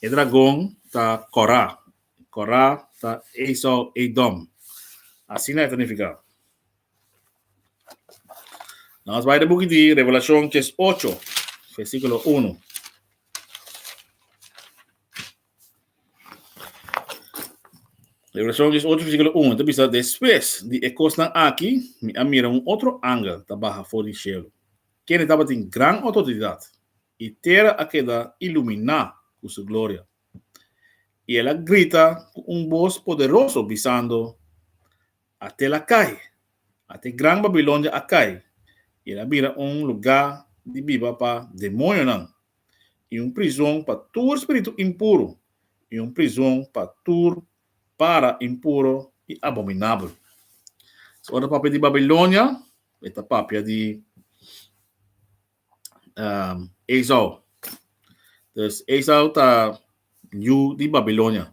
e dragon ta Kòrá. Kòrá ta Esau, Edom. Asina e ta nifiká. Nou as bai den buki di Revelashon kes ocho, versikulo unu. Revelashon kes ocho, versikulo unu, ta bisa, Despues di e kosnan aki, mi a mira un otro angel ta baha for di shelu, kende tabatin gran outoridat, i tera a keda iluminá ku su gloria. I el a grita ku un bos poderoso, bisando, a tel a kai, ata e gran Babilonia a kai, i el a bira un lugá di biba pa demonionan, i un prizon pa tur spiritu impuru, i un prizon pa tur para impuru i abominabel. So, ora ta papia di Babilonia, e ta papia di um, Esau. Dus Esau ta yu di Babilonia.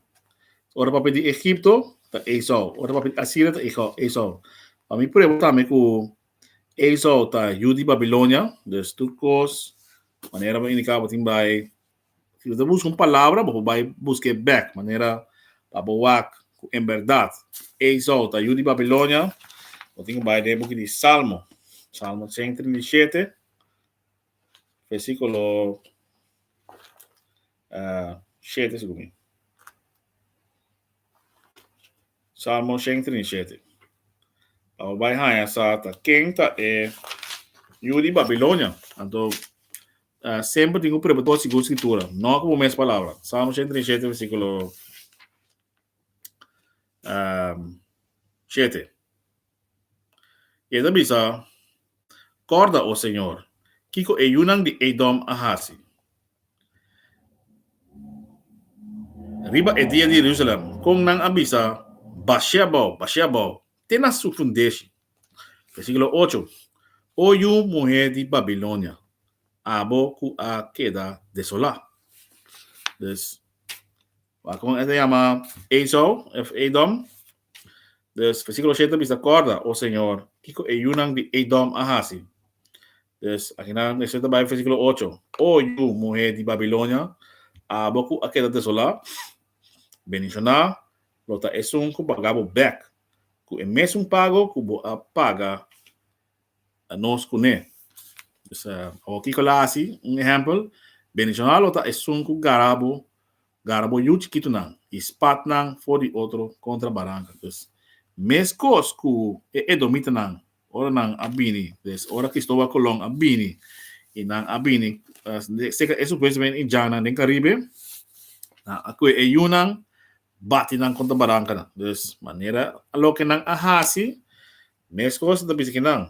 Ora papia di Egipto ta Esau. Ora papia di Asiria ta Esau. Pa mi prueba tambe ku Esau ta yu di Babilonia. Dus tur kos, manera bo indiká, bo tin bai Si bo ta buska un palabra bo por bai buska e bek manera pa bo wak ku en bèrdat Esau ta yu di Babilonia, bo tin ku bai den e buki di Salmo, Salmo sèn i trinta i shete, versikulo shete segun mi, Salmo sèn i trinta i shete, pa bo bai haña sa ta ken ta e yu di Babilonia. Anto Semper tin ku prueba tur segun Skritura, no ku bo mes palabra. Salmo ochenta i shete, versíkulo shete. I e ta bisa, Kòrda, o señor, kiko e yunan di Edom a hasi riba e dia di Jerusalèm, kon nan a bisa, Bashé abou, bashé abou te na su fundeshi. Versíkulo ocho, O yu muhé di Babilonia, abo ku a keda desolá. Dus, wakon e ta yama Esau òf Edom. Dus, versíkulo shete bisa, Kòrda, o señor, kiko e yunan di Edom a hasi. Dus, akinan mester ta bai versíkulo ocho, O yu muhé di Babilonia, abo ku a keda desolá, bendishoná lo ta esun ku paga bo bèk ku e mesun pago ku bo a paga nos kuné. Dus awor kiko la hasi un ehèmpel, Bendishonal lo ta esun ku gara bo gara bo yu chikitunan i spat nan for di otro kontra baranka. Dus mes kos ku e edomitanan Ora nan a bini, des ora Cristoval Colon a bini y nan a bini seca esun pues wen Indiannan den Caribe, nan a coe e yunan bati nan contra barancanan. Dus manera loke nan a haci, mes cos ta bisa kinan,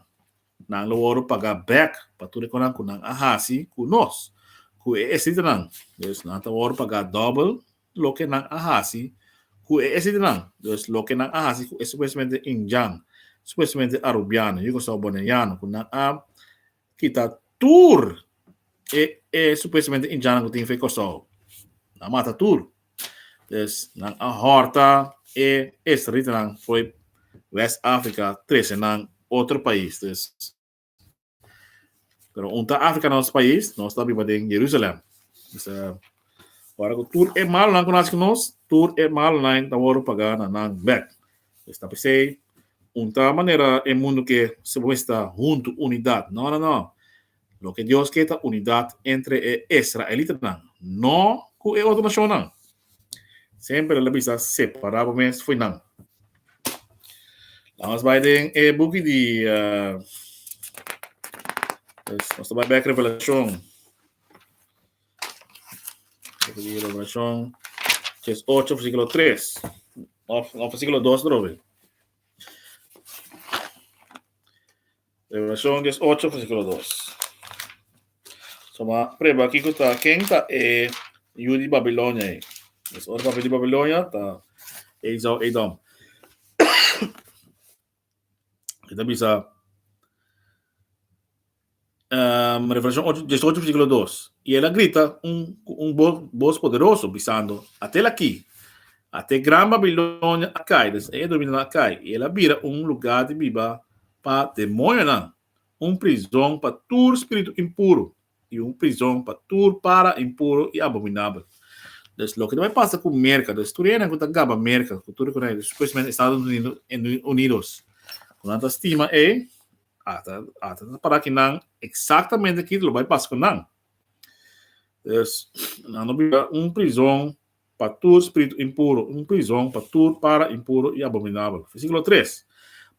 nan lo worde paga back pa tur e cos cu nan a haci cu nos, cu e esthitanan. Dus nan ta worde paga double. loke nan a hasi ku e esitinan, dus loke nan a hasi ku e supuestamente Injan, supuestamente Arubiano, Yugo Sou Boneiano, ku nan a kita tur e e supuestamente Injannan ku tin fe Kòrsou. Nan a mata tur. Dus nan a hòrta e esritinan for West Africa trese nan otro pais. Dus. Pero un ta Africa nos país, nos ta biba den Jerusalem. Bisa, ora ku tur e mal nan ku nas ku nos, tur e mal nan ta wòrdu pagá na nan bèk. Pues ta pesei, un ta manera e mundu ke su mester huntu, unidat. No, no, no. Loke Dios ke ta unidat entre e israelitanan, no ku e otro nashonnan. Semper el a bisa, Separa bo mes fu nan. La nos bai den e buki di uh, nos ta bai bek Revelashon. Revelashon, ches 8, versículo 3. Of, of versículo 2 trove. Revelacion dies ocho versiculo dos. So ma preba kiko ta, ken ta e yu di Babilonia ei? Pues ora papia di Babilonia ta Esau Edom. E ta bisa um, Revelacion ocho, dies ocho versiculo dos. Y el a grita un, cu un bo- bos poderoso bisando, Atel aki, ate gran Babilonia a cai, des e dominio nan a cai, y el a bira un lugar di biba Pa demoñonan, un prizon pa tur spiritu impuru, i un prizon pa tur para impuru i abominabel. Des loke ta bai pasa ku Merka, des tur hende ku ta gaba Merka, ku tur e konai, spesialmente Estados Unidos, ku nan ta stima ei, ata ata ta para ki nan eksaktamente kiko lo bai pasa ku nan. Des nan lo bira un prizon pa tur spiritu impuru, un prizon pa tur para impuru i abominabel. Versíkulo tres,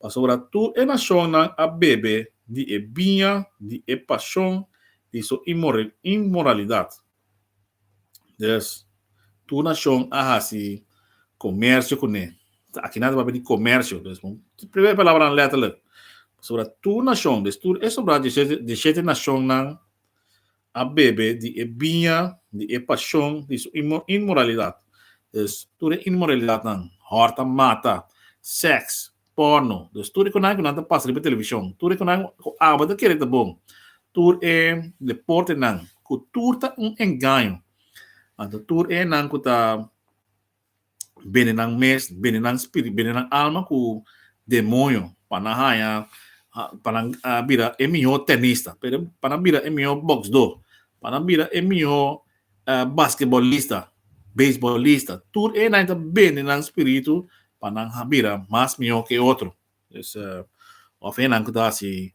Pasobra tur e nashonnan a bebe di e biña di e pashon di su inmoralidat. Dus, tur nashon a hasi komersio ku ne. Ta aki nan ta papia di komersio, dus un primer palabranan lèterlek. Pasobra tur nashon, dus tur e sobrado di e shete nashonnan, a bebe di e biña di e pashon di su inmoralidat. Dus, tur e inmoralidatnan, hòrt a mata, sèks, pòrno, dus tur e kunan ku nan ta pasa riba televishon, tur e kunan ku aba ta kere ta bon, tur e deportenan ku tur ta un engaño, anto tur enan ku ta. bende nan mes, bende nan spirit, bende nan alma ku demonio pa nan haña pa nan bira e mihó tenista, pa nan bira e mihó boksdó, pa nan bira e mihó basketbolista, beisbolista, tur enan ta bende nan spiritu pa nan bira mas mihó ke otro. Of enan ku ta hasi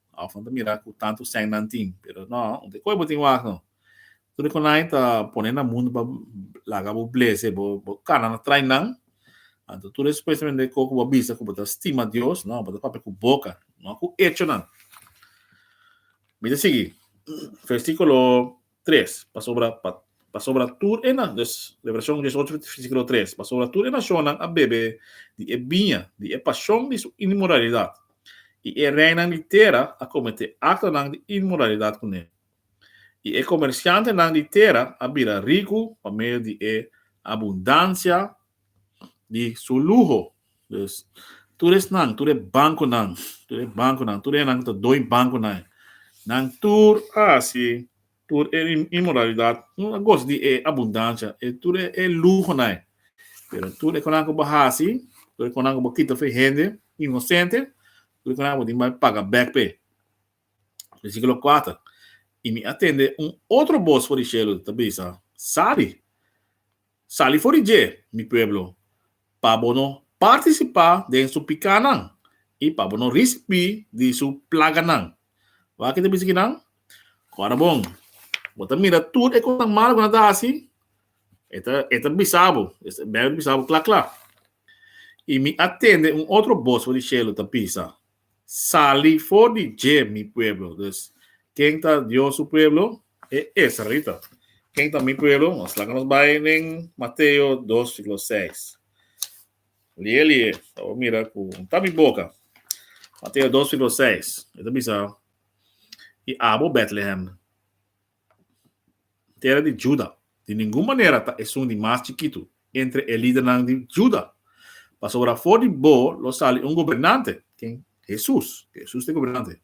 Of nan ta mira cu tantu sèn nan tin. Pero no, un te coe bo tin wak no. Tur di conai ta pone na mundu pa laga bo blese, bo cana na train nan. Anto tur e supuestamente e co cu bo a bisa cu bo ta stima Dios, no, bo ta papia cu boca, no cu echonan. Mi ta sigui, versiculo. tres, pasobra pa pasobra tur e na des Revelashon diesocho versiklo tres pasobra tur e nashonnan a bebe di e biña di e pashon di su inmoralidat, i e reinan di tera a kometé aktonan di inmoralidat ku ne, i e komershantenan di tera a bira riku pa medio di e abundansia di su luho. Pues, tur esnan, tur e bankonan, tur e bankonan, tur enan ku ta doi bankonan, nan tur a hasi tur e inmoralidat, tur a gosa di e abundansia, e tur e luhonan. Pero tur e konan ku bo a hasi, tur e konan ku bo a kita fe hende inosente, tur e konan bo tin ku bai paga bèk p'e. Versíkulo kuater, I mi a tende un otro bos for di shelu ta bisa, Sali! Sali for di dje, mi pueblo, pa bo no partisipá den su pikánan i pa bo no risibí di su plaganan. Wak i ta bisa ki nan, Ku ora bon, bo ta mira tur e kosnan malu ku nan ta hasi, e ta e ta bisa bo, e ta bèra di bisa bo kla kla. I mi a tende un otro bos for di shelu ta bisa, sali for di dje mi pueblo. Dus, ken ta Dios su pueblo? E israelita. Ken ta mi pueblo? Nos laga nos bai den Mateo dos, siklo seis. Lie, lie. Ta bo mira ku unta mi boka. Mateo dos, siklo seis. E ta bisa, I abo, Bètlehem. Tera di Juda. Di ningun manera ta esun di mas chikitu entre e lidernan di Juda, pasobra afó di bo lo sali un gobernante, ken? Hesus, Hesus ta e gobernante,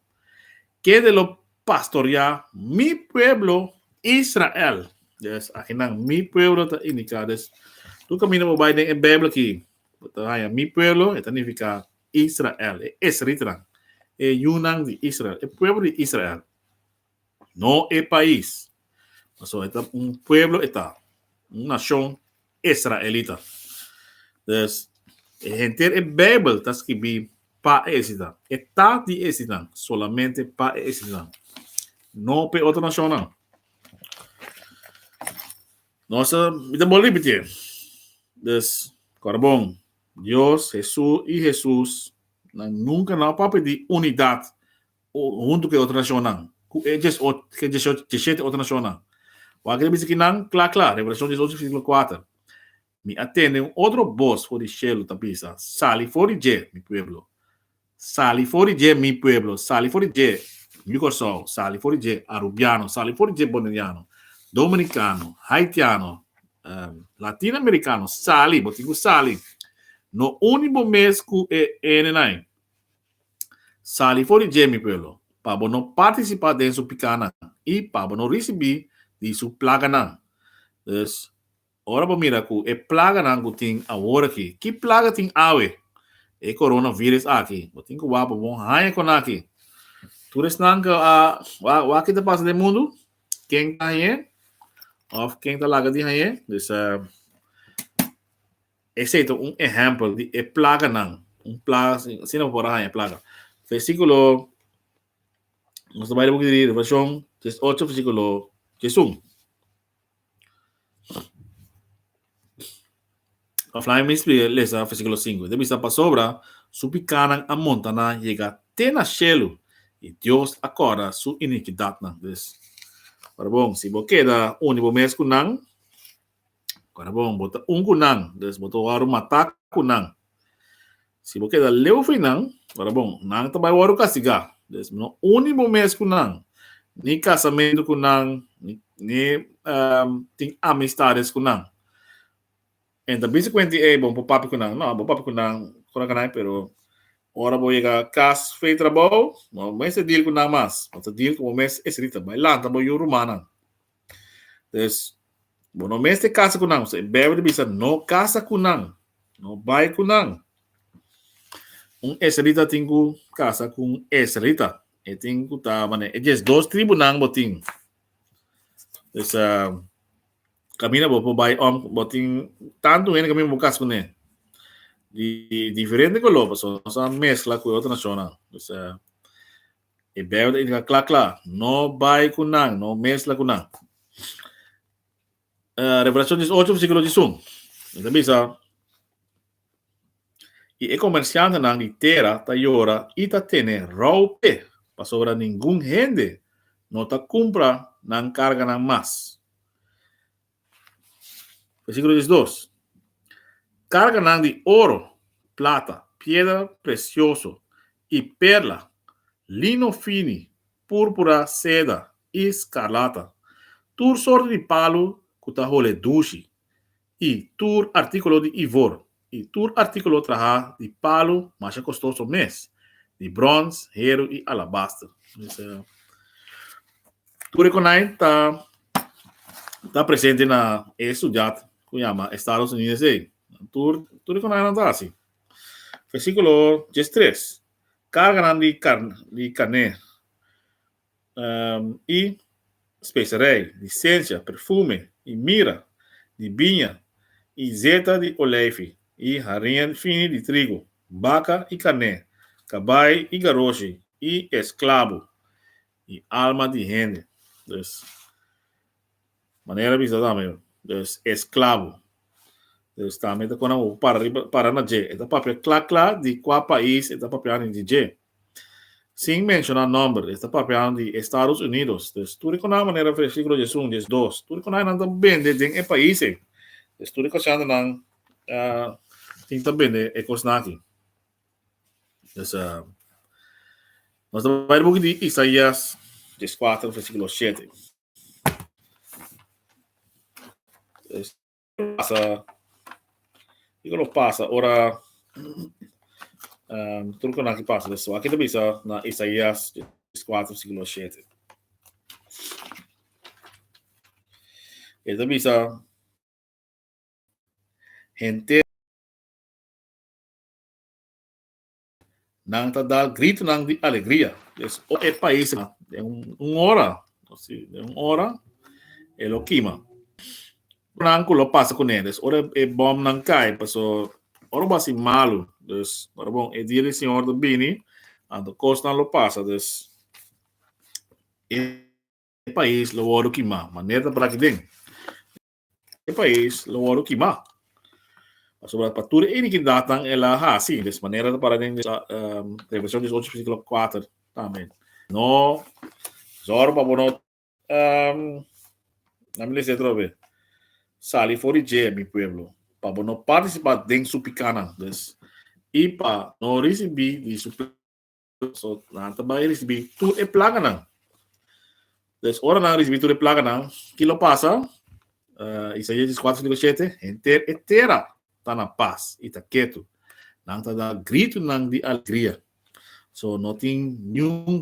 kende lo pastoreá Mi pueblo Israel. Des, aki nan Mi pueblo ta indiká. Des, tur kaminda bo bai den e Beibel aki, bo ta haña Mi pueblo, e ta nifiká Israel, e israelitanan, e yunan di Israel, e pueblo di Israel. No e pais. Pasobra e ta un pueblo, e ta un nashon israelita. Dus, e henter e Beibel ta skibí pa e esnan. E ta di esnan, solamente pa e esnan, no pa e otro nashonnan. Nos ta, mi ta bolbe repitié. Dus, kòrda bon, Dios, Hesus i Hesusnan nunka no a papia di unidat huntu ku e otro nashonnan, ku e dies ocho, ku e dieshocho, dieshete otro nashonnan. Bo a kere bisa ki nan kla kla, Revelashon diesocho versíkulo kuater, Mi a tende un otro bos for di shelu ta bisa, Sali for di dje, mi pueblo, sali for di dje, mi pueblo, sali for di dje, yu Kòrsou, sali for di dje, arubiano, sali for di dje, boneriano, dominikano, haitiano, latin amerikano, sali, bo tin ku sali, no uni bo mes ku e enenan. Sali for di dje, mi pueblo, pa bo no partisipá den su pikánan i pa bo no risibí di su plaganan. Dus, ora bo mira ku e plaganan ku tin awor akí, ki plaga tin awe? E koronavíris akí. Bo tin ku bo a por bon haña ku naki. Tur esnan ku a wak ki ta pasa den mundu, ken ta hañ'é òf ken ta laga di hañ'é? Dus, Esei ta un ehèmpel di e plaganan, un plaga si, asina bo por a haña plaga. Versíkulo, nos ta bai di Buki di Revelashon dies ocho versíkulo dies un. Pa fla mi spliga, lesa versíkulo sinku. Ta bisa pasobra su pikanan a monta na yega te na shelu, i Dios a kòrda su inikidatnan. Dus, ora bon, si bo keda uni bo mes ku nan, Ora bon, bo ta un ku nan, dus bo ta wòrdu matá ku nan. Si bo keda leu fei nan, ora bon, nan ta bai wòrdu kastigá. Dus no uni bo mes ku nan, ni kasamentu ku nan, ni tin amistades ku nan. En ta bisa kuenti, Ei, bo por papia ku nan. No, bo papia ku nan ora ku nan, pero ora bo yega kas fei trabou, no mester deal ku nan mas. Bo ta deal ku bo mes esei dita. Bai lanta bo yu rumannan. Entonces, bo no mester casa cu nan. So, e Bijbel ta bisa, no casa cu nan. No bay cu nan. Un esrelita tin cu casa cu un esrelita. E tin cu ta mane. E djes dos tribunan bo tin. Entonces, uh, camina bo por bay om. Bo tin tanto hende camina bo casa cu ne. Di diferente color, so no sa mezcla cu otro nacional. Entonces, uh, E Bijbel ta indica cla cla, no bay cu nan, no mezcla cu nan. Uh, Revelacion dies ocho versiculo dies un, e ta bisa, Y e comerciantenan di tera ta yora y ta tene rou pe, pasobra ningun hende no ta cumpra nan carganan mas. Versíkulo diesdos. Karganan di oro, plata, piedra presioso i perla, lino fini, púrpura, seda i skarlata, tur sorti di palu ku ta hole dushi i tur artíkulo di ivor I tur artíkulo trahá di palu masha kostoso mes, di bròns, heru i alabaster. Tur e konai ta ta presente na e sudiat ku yama Estados Unidos ei. Tur tur e konainan ta hasi. Versíkulo diestres, Karganan di karn di karner. um i spesarij, di sensia, perfume, i mira, di biña, i zeta di olijfi, i harin fini di trigu, baka i karné, kabai i garoshi, i esklabu, i alma di hende. Dus, Manera bisa tambe des esclavo. Des tambe ta cona bo para riba, para na dje. E ta papia cla cla di cua pais e ta papiando di dje. Sin menciona nomber, e ta papiando di Estados Unidos. Des tur e cona manera versiculo dje sun, dje dos. Tur e cona nan ta bende den e pais ei. Des tur e cosinan nan tin ta bende e cosnan aki. Des nos ta bai di buki di Isaias, dje cuater versiculo shete. pasa, kiko lo pasa ora um, truco na que pasa eso. Aquí te bisa na Isaías 4, versículo 7. Ele te bisa gente Nan ta da gritonan di alegria. Pues o e pais a den un ora, si den un ora e lo kima. Nan ku lo pasa kuné, dus ora e bòmnan kai, paso ora bo a hasi malu, dus ora bo e dia di Señor ta bini, anto kosnan lo pasa, dus e pais lo wòrdu kimá, manera ta para aki den. e pais lo wòrdu kimá. Pasobra pa tur e iniki datan el a hasi des manera, ta para den Revelacion dies ocho versículo kuater tambe. No zòrg pa bo no na mi lesa atrobe, sali for di dje, mi pueblo, pa bo no partisipá den su pikánan, i pa no risibí di su. so nan ta bai risibi tur e plaganan. Des ora nan risibi tur e plaganan, ki lo pasa? Uh, Isaia 24:57, henter e tera ta na pas i ta ketu. Nan ta da gritu nan di alegria. So no tin niun